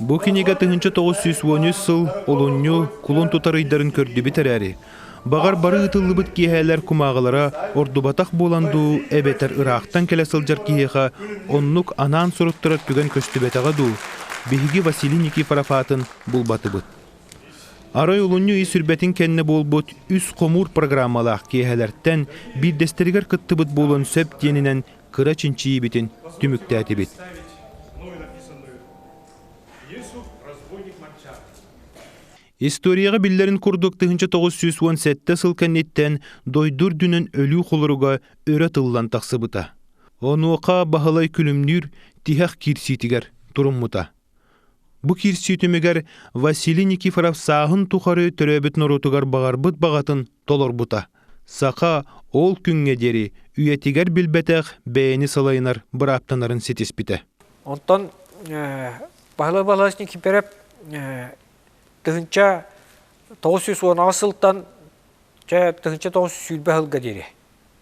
Бу кинигэ тыһыынча тоҕус сүүс уон үс сыл олунньу кулун тутар ыйдарын көрдүбүт эрээри, баҕар бары ыытыллыбыт киэһээлэр кумааҕылара ордубатах буолан дуу, эбэтэр ыраахтан кэлэ сылдьар киһиэхэ оннук анаан суруттарар түгэн көстүбэтэҕэ дуу, биһиги Василий Никифоров аатын булбатыбыт. Арай олунньу ый сүрбэтин кэннэ буолбут үс хомуур программалаах киэһэлэртэн биирдэстэригэр кыттыбыт буолан сөп диэнинэн кыра чинчийиибитин түмүктээтибит. Историяҕа биллэрин курдук тыһыынча тоҕус сүүс уон сэттэ сыл кэнниттэн дойду үрдүнэн өлүү холоруга өрө тыллан тахсыбыта. Онуоха Баһылай күлүмнүүр тиһэх киирсиитигэр туруммута. Бу киирсии түмүгэр Василий Никифоров сааһын тухары төрөөбүт норуотугар баҕарбыт баҕатын толорбута. Саха ол күҥҥэ диэри үйэтигэр билбэтэх бэйэни салайынар бырааптанарын ситиспитэ. Онтон Павел Валерьевич Никифоров тыһынча тоҕус сүүс уонаҕа сылтан тыһынча тоҕус сүүрбэ сылга диэри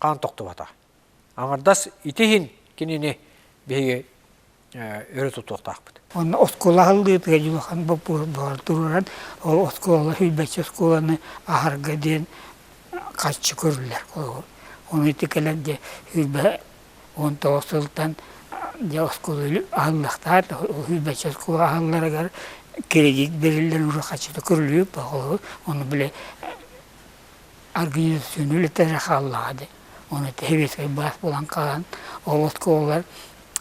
хаан тохтубата. Аҥардас ити иһин кинини биһиги өрө тутуохтаахпыт. Онно оскуола аһыллыытыгар улахан боппуруос туруран, ол оскуола сүүрбэччэ оскуоланы аһарга диэн харчы көрүллэр. Ону ити кэлэр дьэ сүүрбэ уон тоҕус сылтан дьэ оскуола аһыллыахтаах, сүүрбэччэ оскуола аһылларыгар кредит бериллэр урут харчыта көрүллүбүт, ону били Организационнай үлэлэрэ хааллаҕа дии. Ону сэбиэскэй былаас булан хаалан ол оскуолалар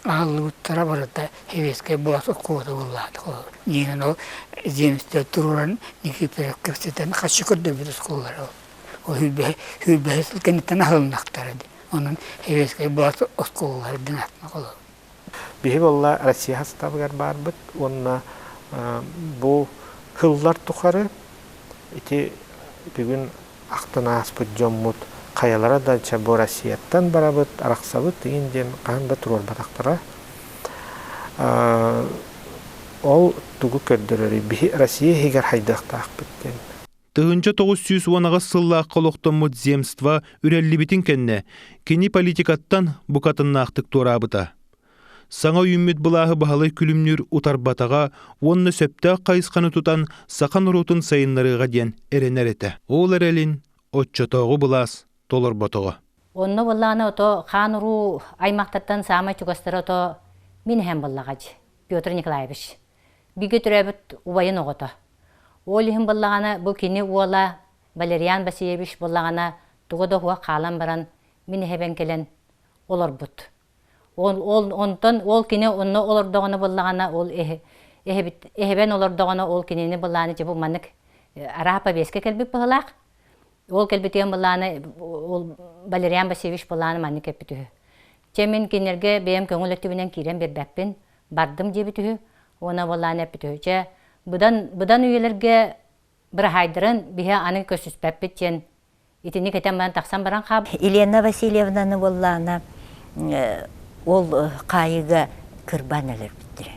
аһыллыбыттара барыта сэбиэскэй былаас оскуолата буоллаҕа ол. Иннинэ ол земскэй туруоран Никифоров кэпсэтэн харчы көрдөрбүт оскуолалара ол. Ол сүүрбэһэ сүүрбэһэ сыл кэнниттэн аһылыннахтара дии. Онон сэбиэскэй былаас оскуолаларын атын ол. Биһи буолла Россия састаабыгар баарбыт уонна бу кыллар тухары ити бүгүн ахтан ааспыт дьоммут хайалара да ча бу Россияттан барабыт, арахсабыт иин диэн хаһан да туруорбатахтара. Ол тугу көрдөрөрүй? Биһи Россия иһигэр хайдыахтаахпыт диэн. Тыһынча тоғыз сүүс уон аҕыс сыллаахха олохтоммут земство үрэллибитин кэннэ кини политикаттан букатыннаахтык туораабыта. Саҥа үүммүт былааһы баһылай күлүмнүүр утарбатаҕа уонна сөптөөх хайысханы тутан саха норуотун сайыннарыыга диэн эрэнэр этэ. Ол эрэлин оччотооҕу былаас толорботоҕо. Онно былаана ото хаан уруу аймактартан саамай чугастара ото мин эһэм быллаҕадж Петр Николаевич. Бигэ төрөөбүт убайын оҕото. Ол иһин буоллаҕына бу кини уола Валериан Васильевич буоллаҕына туга да уһук хаалан баран мин эһэбин кэлэн олорбут. Ол, ол, онтон ол кини онно олордоҕуна буоллаҕына ол эһэ, эһэбит, эһэбэн олордоҕуна ол кинини былааны дьэ бу маннык э, араа повестка кэлбит быһылаах. Ол кэлбитиэн былааны ол Валериан Васильевич былааны маннык эппит үһү. Чэ мин кинилэргэ бэйэм көҥүл өттүбүнэн киирэн биэрбэппин, бардым диэбит үһү уонна боллааны эппит үһү. Чэ быдан быдан үйэлэргэ быраһаайдарын биһи аны көрсүспэппит диэн итини кэтэн баран тахсан баран хаалбыт. Елена Васильевнаны боллаана ол хаайыыга кырбаан өлөрбүттэрэ.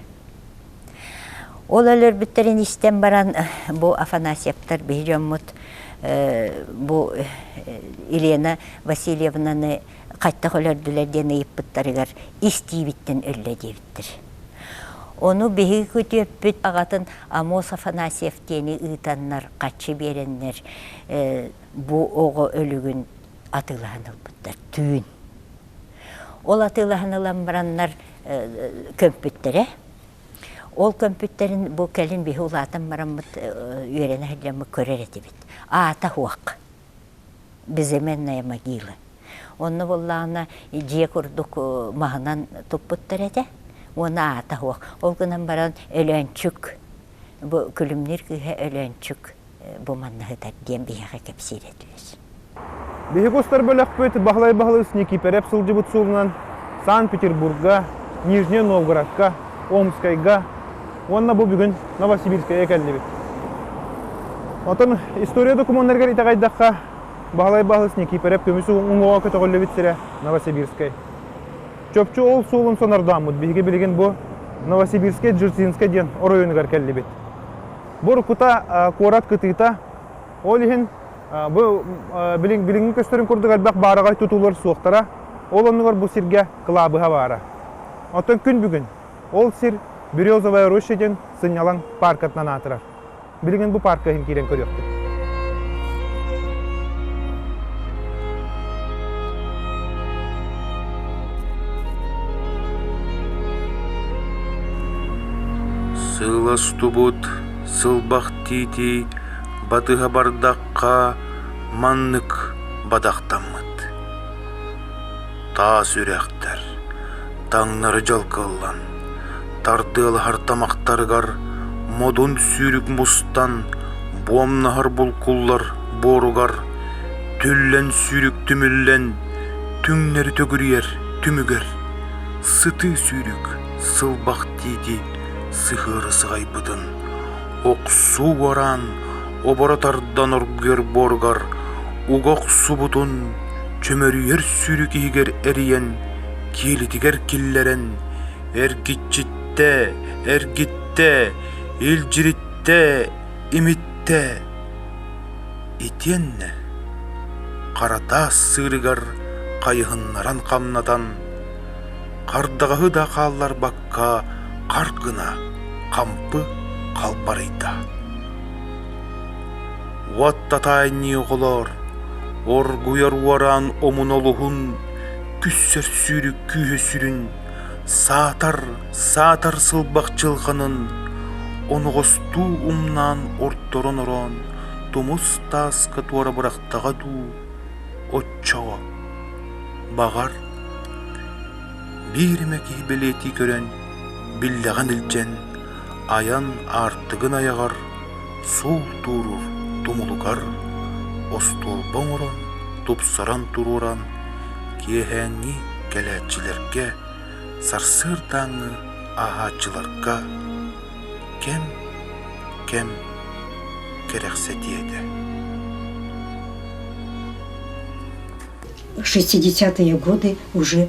Ол өлөрбүттэрин истэн баран бу Афанасьевтар биһи дьоммут бу Елена Васильевнаны хайтах өлөрдүлэр диэн ыйыппыттарыгар истиибиттэн өллө диэбиттэр. Ону биһиги күтүөппүт аҕатын Амос Афанасьев диэни ыытаннар хаччы биэрэннэр бу оҕо өлүгүн атыылаһан ылбыттар түүн. Ол атыылаһан ылан бараннар көмпүттэрэ. Ол көмпүттэрин бу кэлин биһи улаатан бараммыт үөрэнэ сылдьаммыт көрөр этибит. Аата суох. Безыменная могила. Онно буоллаҕына дьиэ курдук маһынан туппуттар этэ. Уонна аата суох. Ол гынан баран Өлөөнчүк. Бу күлүмнүүр кыыһа Өлөөнчүк. бу манныһытар диэн биһиэхэ кэпсиирэ түһэр. Биһиги устар бөлөхпүт Баһылай Баһылыс Никиипэрэп сылдьыбыт суолунан Санкт-Петербурга, Нижние Новгородка, Омскайга уонна бу бүгүн Новосибирскайга кэллибит. Оттон история докумуоннарыгар итэҕэйдэххэ, Баһылай Баһылыс Никиипэрэп көмүс уҥуоҕа көтөҕүллүбүт сирэ Новосибирскай. Чопчу ол суолун сонордооммут биһиги билигин бу Новосибирскай Джерсинскай диэн оройуонугар кэллибит. Бу уруккута куорат кытыыта, ол иһин бу билиҥҥи көстөрүн курдук элбэх баараҕай тутуулар суохтара. Ол оннугар бу сиргэ кылаабыһа баара. Оттон күн бүгүн ол сир Березовая роща диэн сынньалаҥ пааркатынан аатырар. Билигин бу паарка иһин киирэн көрүөхпүт. Сыластубут сылбахтиитий батыһа бардахха маннык бадахтаммыт таас үрэхтэр таҥнары дьалкыллан тардыалаһар тамахтарыгар модун сүүрүк мустан буомнаһар булкуллар буоругар түллэн сүүрүк түмүллэн Түҥнэри төгүрүйэр түмүгэр сытыы сүүрүк сылбах тиити сыһыары сыҕайбытын охсуу уораан оборо тардан оргуйар буоругар уга охсубутун чөмөрүйэр сүүрүк иһигэр эрийэн киэлитигэр киллэрэн эргиччиттэ эргиттэ илдьириттэ имиттэ итиэннэ Харатаас сыырыгар хайыһыннаран хамнатан, хардаҕаһы да хаалларбакка харк гына хампы халбарыйда. Уот татаайныы оҕолоор, оргуйар уораан омун олуһун күссэр сүүрүк күүһэ сүрүн Саатар, саатар сылбах дьылҕанын оноҕостуу умнаан орторон-ороон тумус тааска туора бырахтаҕа дуу, оччоҕо, баҕар, биир эмэ киһи бэлиэтии көрөн, биллэҕин илдьэн, айан аартыгын айаҕар, суол туурур тумулугар остуолба оҥорон тупсаран туруоран киэһээҥҥи кэлээччилэргэ сарсыардааҥҥы ааһааччыларга кэм кэм кэрэхсэтиэ этэ шестидесятые годы уже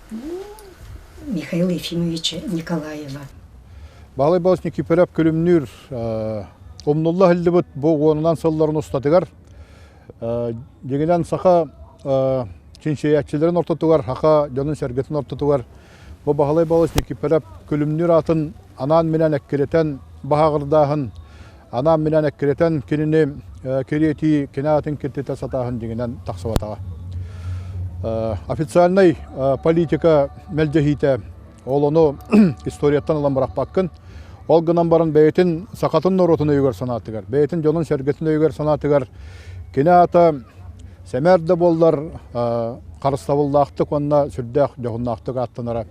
Михаил Ефимовича Николаева. Баалай Балыч Никифоров күлүмнүүр умнулла һиллибит бу уонунан сылларын устатыгар дегенен саха чинчийээччилэрин ортотугар хаха дьонун сэргэтин ортотугар бу Баһылай Балыч Никифоров күлүмнүүр аатын анаан минэн эккирэтэн баһаҕырдааһын анаан минээн эккирэтэн кинини кириэтии кинаатын киртитэ сатааһын дьиҥинэн тахсыбатаҕа официальнай политика мэлдьэһиитэ ол ону историяттан ылан бырахпаккын ол гынан баран бэйэтин сахатын норуотун өйүгэр санаатыгар бэйэтин дьонун сэргэтин өйүгэр санаатыгар кини аата сэмээр да буоллар харыстабыллаахтык уонна сүрдээх дьоһуннаахтык ааттанара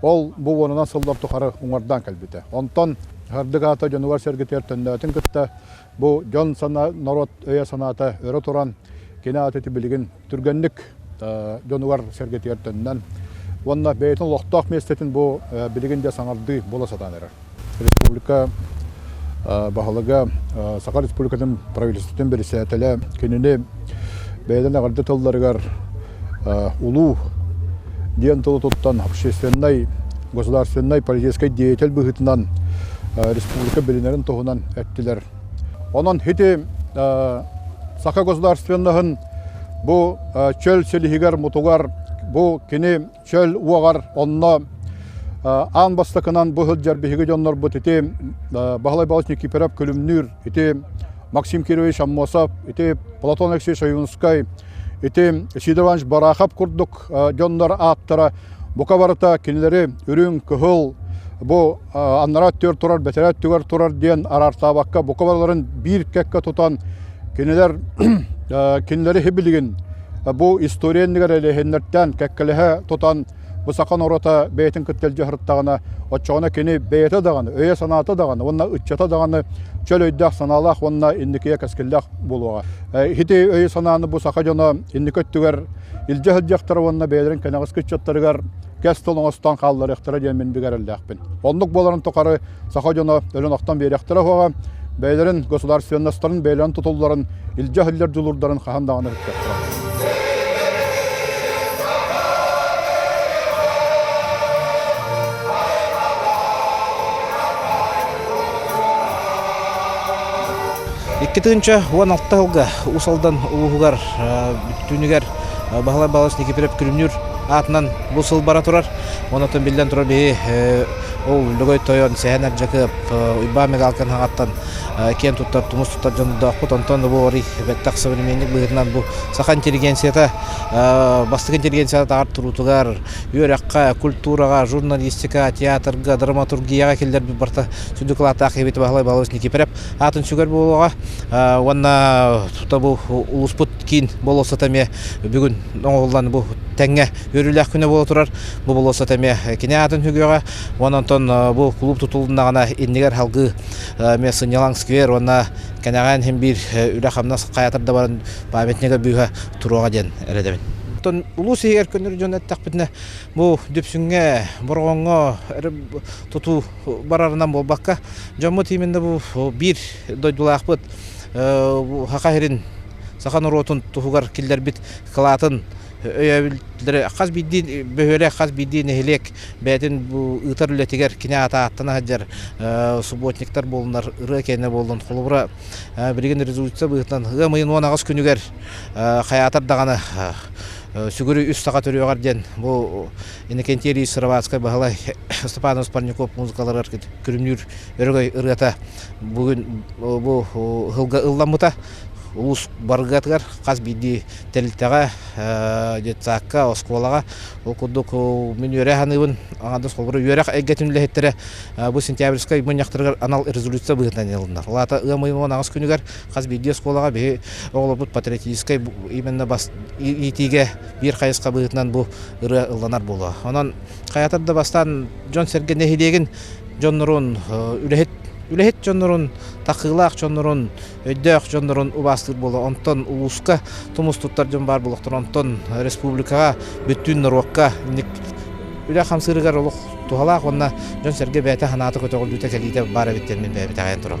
Ол бу уонунан сыллар тухары уҥардаан кэлбитэ. Онтон Һардык аата дьонугар-сэргэтигэр төннөөтүн кытта бу дьон санаа, норуот өйө-санаата өрө туран кини аатыты билигин түргэнник дьонугар-сэргэтигэр төннөн уонна бэйэтин олохтоох миэстэтин бу билигин дьэ саҥардыы буола сатаан эрэр. республика баһылыга Саха Республикатын правительствотын бэрэсээтэлэ кинини бэйэтин аҕырды тылларыгар улуу диэн тылы туттан общественнай, государственнай, политическай деятель быһыытынан республика билинэрин туһунан эттилэр. Онон ити саха государственноһын бу чөл силиһигэр-мутугар бу кини чөл уоҕар онно аан бастакынан бу сылдьар биһиги дьоннорбут ити Баһылай Балыч Никифоров Күлүмнүүр, ити Максим Кирович Аммосов, ити Платон Алексеевич Аюнскай, ити Сидорович Барахов курдук дьоннор ааттара бука барыта кинилэри үрүҥ, кыһыл, бу аннараа өттүгэр турар бэтэрээ өттүгэр турар диэн араартаабакка бука барыларын биир кэккэ тутан кинилэр кинилэри һибилигин бу история иннигэр элэһиннэртэн кэккэлэһэ тутан бу саха норуота бэйэтин кыттыган дьаһырыттаҕына оччоҕуна кини бэйэтэ даҕаны өйө-санаата даҕаны уонна ыччата даҕаны чөл өйдөөх санаалаах уонна инникигэ кэскиллээх буолуоҕа ити өйө-санааны бу саха дьоно инники өттүгэр илдьэ сылдьахтара уонна бэйэлэрин кэнэҕэски ыччаттарыгар кэс тыл оҥостон хаалларыахтара диэн мин бигэрэллээхпин. Оннук буоларын тухары саха дьоно өлөн охтон биэриэхтэрэ уһаҕа, бэйэлэрин государственностарын бэйэлэрин тутулларын, илдьэ иһиллэр дьулуурдарын хаһан даҕаны эһиттиэхтэрэ. Икки тыынча уон алта сылга Уус Алдан улууһугар бүтүүнүгэр Баһылай Балач Никифоров күлүмнүүр аатынан бу сыл бара турар. Онотон биллэн турар биһи ол Лөгөй тойон Сэһэн Аржакып, Уйбаан Мегалкан хаҥаттан киэн туттар, тумус туттар дьондоохпут. Онтон бу арый бэттэх современник быһыытынан бу саха интеллигенцията бастакы интеллигенцията аар туруутугар, үөрэххэ, культураҕа, журналистика, театрга, драматургияҕа киллэрбит барта сүдү кылааттаах эбит Баһылай Балач Никифоров аатын сүгэр буолуоҕа уонна тута бу улууспут киин болуоссата эмиэ бүгүн оҥоһуллан бу тэҥҥэ үөрүүлээх күнэ буола турар. Бу болуоссата эмиэ кини аатын үгүөҕэ уонна онтон бу кулууп тутулуннаҕына иннигэр салгыы эмиэ сынньалаҥ сквер уонна кэнэҕээн иһин биир үлэ-хамнас хаятар да баран памятнига быыһа туруоҕа диэн эрэдэбин. Оттон улуус иһигэр көннөрү дьон эттэхпитинэ бу Дүпсүҥҥэ, Бороҕоҥҥо эрэ тутуу барарынан буолбакка дьоммут именно бу биир дойдулаахпыт Саха сирин, саха норуотун туһугар киллэрбит кылаатын өйөөбүллэрэ хас биирдии бөһүөлэк, хас биирдии нэһилиэк бэйэтин бу ыытар үлэтигэр кини аата ааттана сылдьар субботниктар буоллунар, ырыа киэнэ буоллун. Холобура, билигин резолюция быһыытынан ыам ыйын уон аҕыс күнүгэр хайаатар даҕаны сүгүрүй үс саха төрүөҕэр диэн бу Иннокентий Ильич Сыроватскай Баһылай Степанов Спорняков музыкаларыгар күрүмнүүр өрөгөй ырыата бүгүн бу ыһылга ылламмыта улуус барыгатыгар хас биирдии тэрилтэҕэ детсадка оскуолаҕа ол курдук мин үөрэ саныыбын аҥардас холобура үөрэх эйгэтин үлэһиттэрэ бу сентябрьскай мунньахтарыгар анал резолюция быһыытынан ылыннар ол аата ыам ыйын аҕыс күнүгэр хас биирдии оскуолаҕа биһи оҕолорбут патриотическай именно бас иитиигэ биир хайысха быһыытынан бу ырыа ылланар буолуо онон хайатар да бастаан дьон сэргэ нэһилиэгин дьоннорун үлэһит үлэһит дьоннорун такыылаах дьоннорун өйдөөх дьоннорун убаастыыр буола онтон улууска тумус туттар дьон баар буолуохтар онтон республикаҕа бүттүүн норуокка инник үлэ хамсыырыгар олох туһалаах уонна дьон сэргэ бэйэтэ санаата көтөҕүллүүтэ кэлиитэ баар эбит диэн мин бэйэбит аҕайан турам